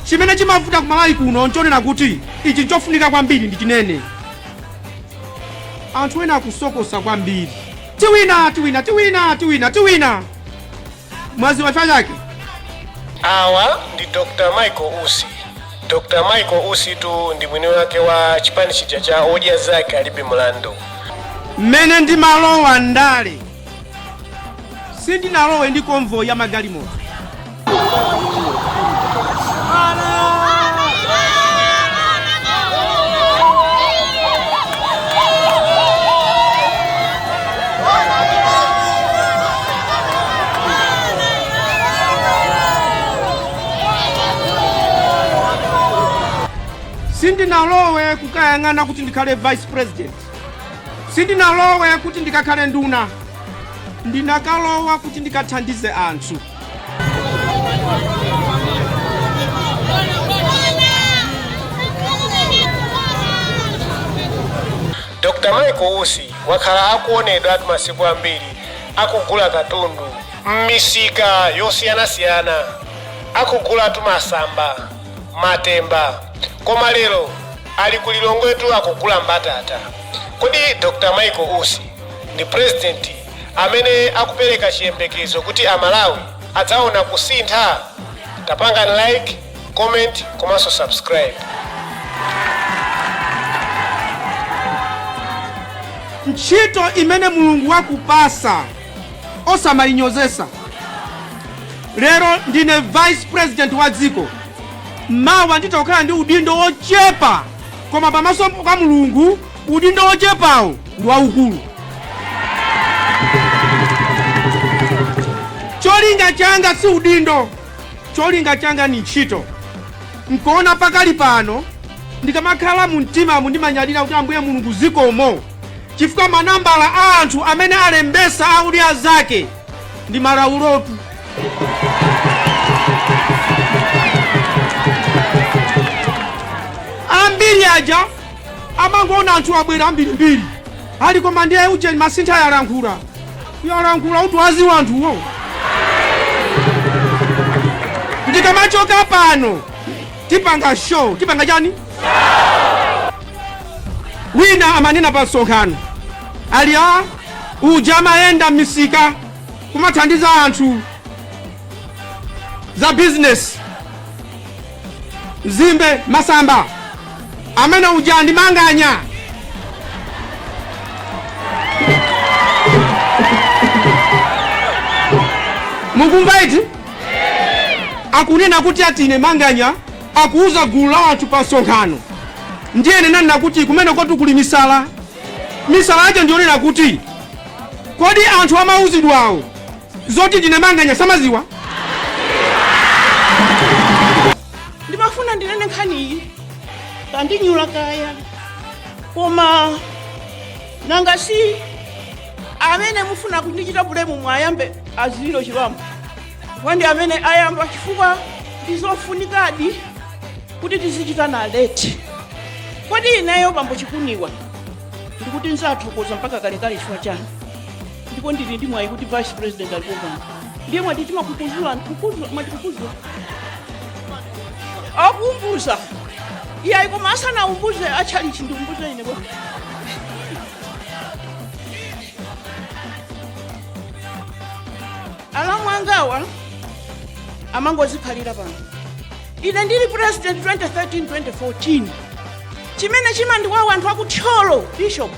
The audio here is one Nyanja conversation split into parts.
Chimene chimavuta ku Malawi kuno nchonena kuti ichi nchofunika kwambiri ndi chiyani. Anthu ena akusokosa kwambiri. Tiwina, tiwina, tiwina, tiwina, tiwina. Mwadziwa chifukwa chake? awa ndi dr michael usi dr michael usi tu ndi mwini wake wa chipani chija cha odya zake alibe mlandu Mmene ndimalowa ndale. sindinalowe ndi convoy ya magalimoto sindinalowe kukayang'ana kuti ndikhale vice president sindinalowe kuti ndikakhale nduna ndinakalowa kuti ndikathandize anthu dr michael usi wakhala akuonedwatu masiku ambiri akugula katundu m'misika yosiyanasiyana akugulatu masamba matemba koma lero ali ku lilongwetu akugula mbatata kodi dr michael usi ndi president amene akupereka chiyembekezo kuti amalawi adzaona kusintha tapangani like comment komanso subscribe ntchito imene mulungu wakupasa osamayinyozesa lero ndine vice president wa dziko mawa nditha kukhala ndi udindo wochepa koma pamaso pa mulungu udindo wochepawo ndi waukulu cholinga changa si udindo cholinga changa ni ntchito nkuona pakali pano ndikamakhala mu mtimamu ndimanyadira kuti ambuye mulungu zikomo chifukwa manambala a anthu amene alembesa a odya zake ndi malawulo tu ambiri aja amangoona anthu abwera ambirimbiri ali koma ndiye ujeni masintha yalankhula yalankhula uti wadziwa anthuwo ndikamachoka pano tipanga show tipanga chani wina amanena pa msonkhano ali a uja amayenda m'misika kumathandiza anthu za bizinesi mzimbe masamba amene uja ndi manganya mukumva eti akunena kuti atine manganya akuuza gulu la anthu pa msonkhano ndiye ndinanena kuti kumenekotu kuli misala misala yake ndi yonena kuti kodi anthu amauzidwawo zoti ndine manganya samaziwa ndimafuna ndinene nkhaniyi akandinyula kaya koma nanga si amene mufuna kundichita bulemu mwayambe aziliro chilombo chifukwa ndi amene ayamba chifukwa ndizofunikadi kuti tizichitana leti kodi ineyo bambo chikuniwa ndikuti nzathokoza mpaka kalekale chifukwa chanu ndipo ndili ndi mwayi kuti vice president alipo pano ndiye mwati timakukuzula ndikukuzula mwatikukuzula akuumbuza iyayi koma asanaumbuze atchalichi ndiumbuze ine bwana alamu angawa amangozikhalira pano ine ndili president 2013-2014 chimene chimandiwawa anthu akuthyolo bishop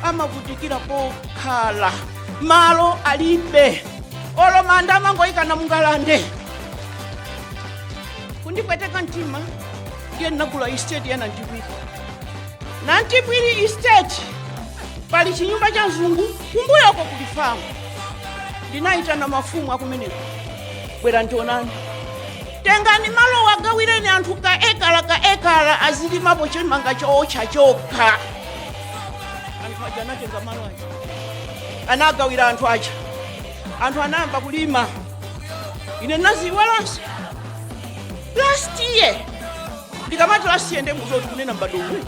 amavutikira pokhala malo alibe olo manda amangoyikana mu ngalande kundipweteka mtima ndiye ndinagula esiteti ya nantipwiri nantipwiri estate pali chinyumba cha mzungu kumbuyoko kuli famu ndinayitana mafumu akumeneko bwera mundione tengani malowa agawireni anthu ka ekala ka ekala azilimapo chimanga chootcha chokha anthu aja anatenga malo aja anagawira anthu aja anthu anayamba kulima ine ndinaziiwalanso last year ndikamati last year ndiye mudziwe kuti ndikunena m'badwo uwu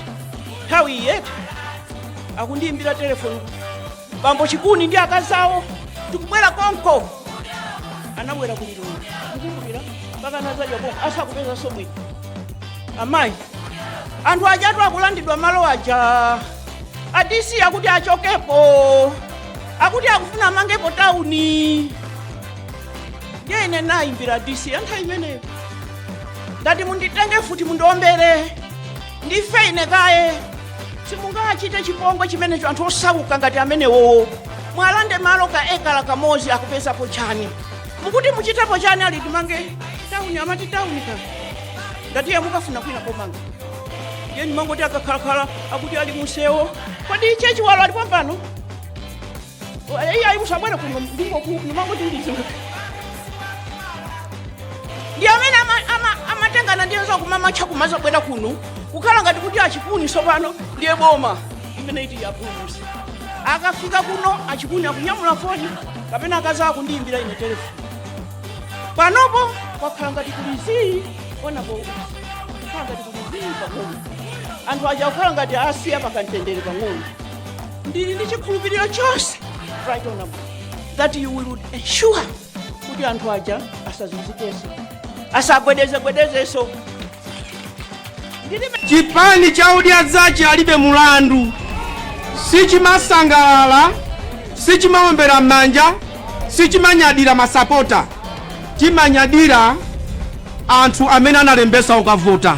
nthawi iyi eti akundiyimbira telefoni bambo chikuni ndi akazi awo tikubwera konko anabwera ku lilongwe ndikumbukira mpaka anazadya konko asakupezanso bwino amayi anthu ajatu akulandidwa malo aja adisi akuti achokepo akuti akufuna amangepo tauni ndiye ine ndinayimbira dc wa nthawi imeneyo ndati munditenge futi mundombere ndife ine kaye simungachite chipongwe chimenecho anthu osauka ngati amenewowo mwalande malo ka ekala kamozi akupezapo chani mukuti muchitepo chani ali timange tauni amati tauni ka ndati iye mukafune kwina komanga ndiye ndimangoti akakhalakhala akuti ali musewo kodi che chiwalo ali pompano Iyayi musabwere kuno n'kumangoti ndizo. Ndi amene amatengana ndi anzawo kumamacha kumabwera kuno. Kukhala ngati kuti a Chikuni sopano ndiye boma imene iti yapulusa. Akafika kuno a Chikuni akunyamula foni kapena akazawa akundiimbira ine telefoni. Panopo kwakhala ngati kuli zii onapo kukhala ngati kuli zii pang'ono. Anthu aja kukhala ngati asiya pakamtendere pang'ono. ndili ndi chikhulupiriro chonse right honorable that you will ensure kuti anthu aja asazunzikenso asagwedezegwedezenso chipani cha Odya Zake alibe mulandu sichimasangalala sichimaombera m'manja sichimanyadira masapota chimanyadira anthu amene analembesa ukavota